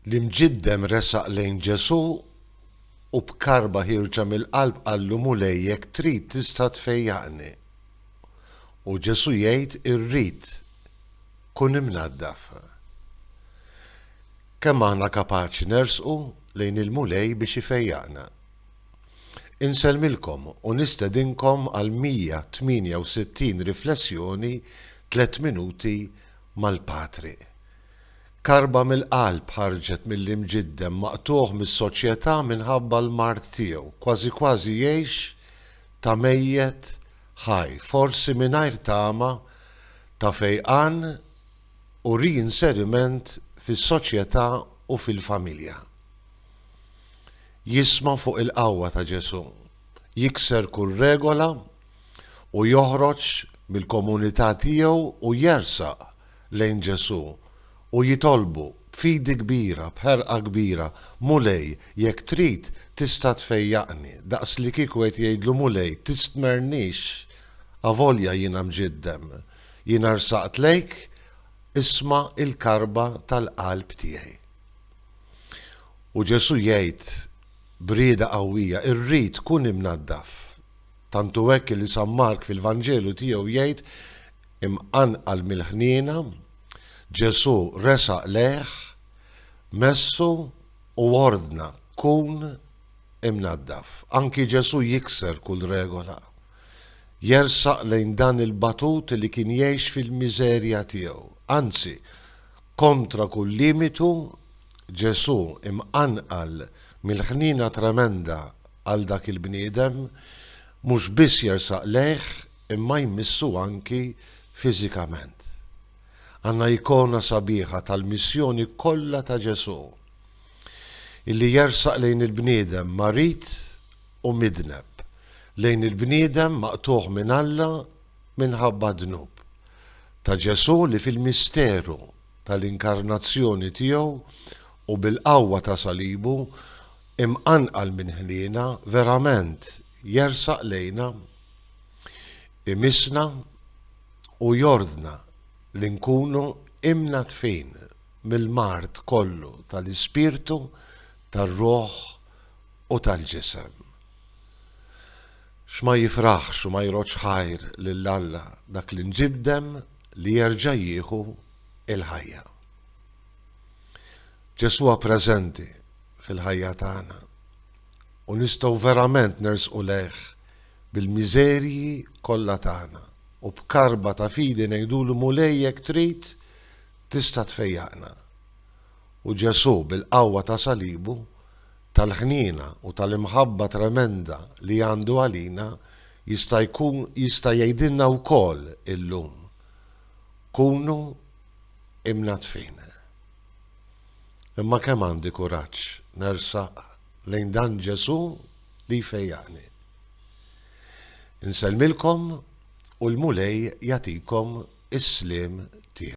L-imġiddem resaq lejn Ġesù u b'karba ħierġa mill-qalb qallu, Mulej, jekk trid, tista' tfejjaqni. U Ġesù jgħid, Irrid, kun imnaddaf. Kemm aħna kapaċi nersqu lejn il-Mulej biex ifejjaqna! Insellmilkom u nistedinkom għal 168 riflessjoni tliet minuti mal-Patriq. Karba mill-qalb ħarġet mill-imġiddem maqtugħ mis-soċjetà minħabba l-mard tiegħu, kważi kważi jgħix ta' mejjet ħaj, forsi mingħajr tama ta' fejqan u ri-inseriment fis-soċjetà u fil-familja. Jisma' fuq il-qawwa ta' Ġesù, jikser kull regola, u joħroġ mill-komunità tiegħu u jersaq lejn Ġesù u jitolbu b'fidi kbira, b'ħerqa kbira, Mulej, jekk trid, tista' tfejjaqni, daqslikieku qed jgħidlu, Mulej, tistmernix, avolja jiena mġiddem, jiena rsaqt lejk, isma' l-karba tal-qalb tiegħi. U Ġesù jgħid b'rieda qawwija, Irrid, kun imnaddaf. Tant hu hekk li San Mark fil-Vanġelu tiegħu jgħid, Imqanqal mill-ħniena, Ġesù resaq lejh, messu u ordna, Kun imnaddaf. Anki Ġesù jikser kull regola. Jersaq lejn dan il-batut li kien jgħix fil-miżerja tiegħu. Anzi, kontra kull limitu, Ġesù imqanqal mill-ħniena tremenda għal dak il-bniedem, mhux biss jersaq lejh imma jmissu anki fiżikament. Għandna ikona sabiħa tal-missjoni kollha ta' Ġesù, illi jersaq lejn il-bniedem marid u midneb, lejn il-bniedem maqtugħ minn Alla minħabba d-dnub. Ta' Ġesù li fil-misteru tal-inkarnazzjoni tiegħu u bil-qawwa ta' salibu Imqanqal minn ħniena, verament, jersaq lejna, imissna u jordna li nkunu imnaddfin mill-mard kollu tal-ispirtu, tar-ruħ u tal-ġisem. X'ma jifraħx u ma jrodx ħajr lil Alla dak l-imġibdem li jerġa' jieħu l-ħajja! Ġesù hu preżenti. fil-ħajja tagħna u nistgħu verament nersqu lejh bil-miżerji kollha tagħna u b'karba ta' fidi ngħidulu Mulej jekk trid tista' tfejjaqna. U Ġesù bil-qawwa ta' salibu, tal-ħniena u tal-imħabba tremenda li għandu għalina jista' jkun jista' jgħidilna wkoll illum. Kunu imnadfin. Imma kemm għandi kuraġġ nersaq lejn dan Ġesù li jfejjaqni. Insellmilkom u l-Mulej jagħtikom is-sliem tiegħu.